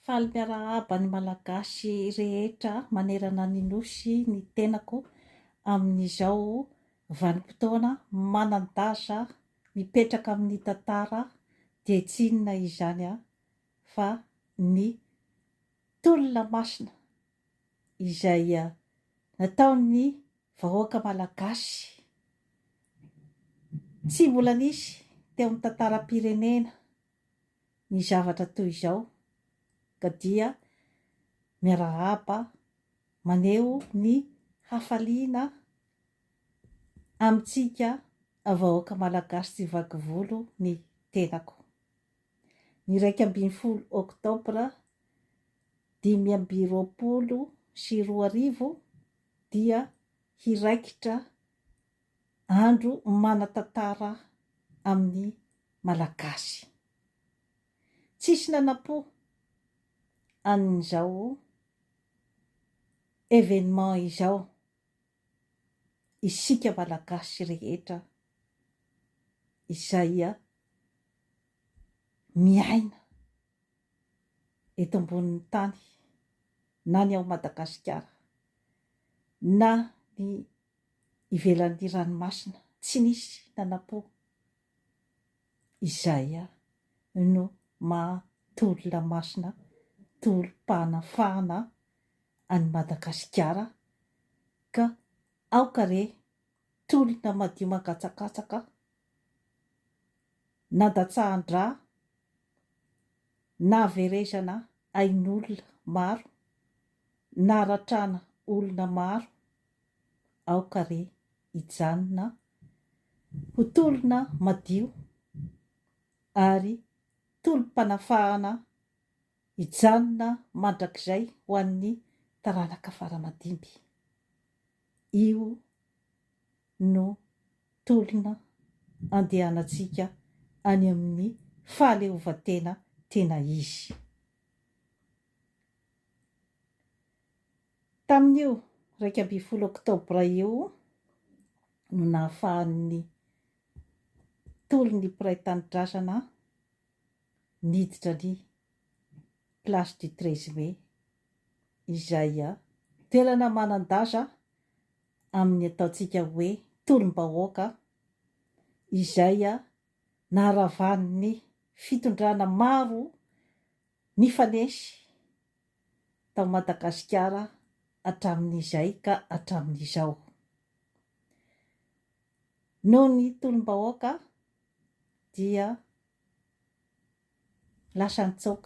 Faly miarahaba ny Malagasy rehetra manerana ny Nosy ny tenako amin'izao vanim-potoana manan-danja mipetraka amin'ny tantara dia tsy inona izany fa ny tolona masina izay nataon'ny vahoaka Malagasy tsy mbola nisy teo amin'ny tantaram-pirenena. ny zavatra toy izao ka dia miarahaba maneho ny hafaliana amintsika vahoaka Malagasy tsy vaky volo ny tenako. Ny iraika ambin'ny folo oktobra dimy amby roapolo sy roa arivo dia hiraikitra Andro manan-tantara amin'ny Malagasy. Tsisy nanam-po an'izao événement izao isika Malagasy rehetra izay miaina eto ambonin'ny tany na ny ao Madagasikara na ny ivelan'ny ranomasina tsy nisy nanampo izay no maha tolona masina tolom-panafahana an'i Madagasikara ka aoka re tolona madio mangatsakatsaka nandatsahan-dra Nahaverezana ain'olona maro, naratrana olona maro, aoka re hijanona ho tolona madio ary tolom-panafahana hijanona mandrakizay ho an'ny taranaka fara-madimby. Io no tolona andehanantsika any amin'ny fahaleovantena tena izy. Tamin'io iraika ambin'ny folo oktobra io no nahafahan'ny tolon'ny mpiray tanindrazana niditra ny Place du 13 Mai izay toerana manan-daza amin'ny ataontsika hoe tolom-bahoaka izay naharavan'ny fitondrana maro nifanesy tao Madagasikara hatramin'izay ka hatramin'izao. Noho ny tolom-bahoaka dia lasa nitsoaka.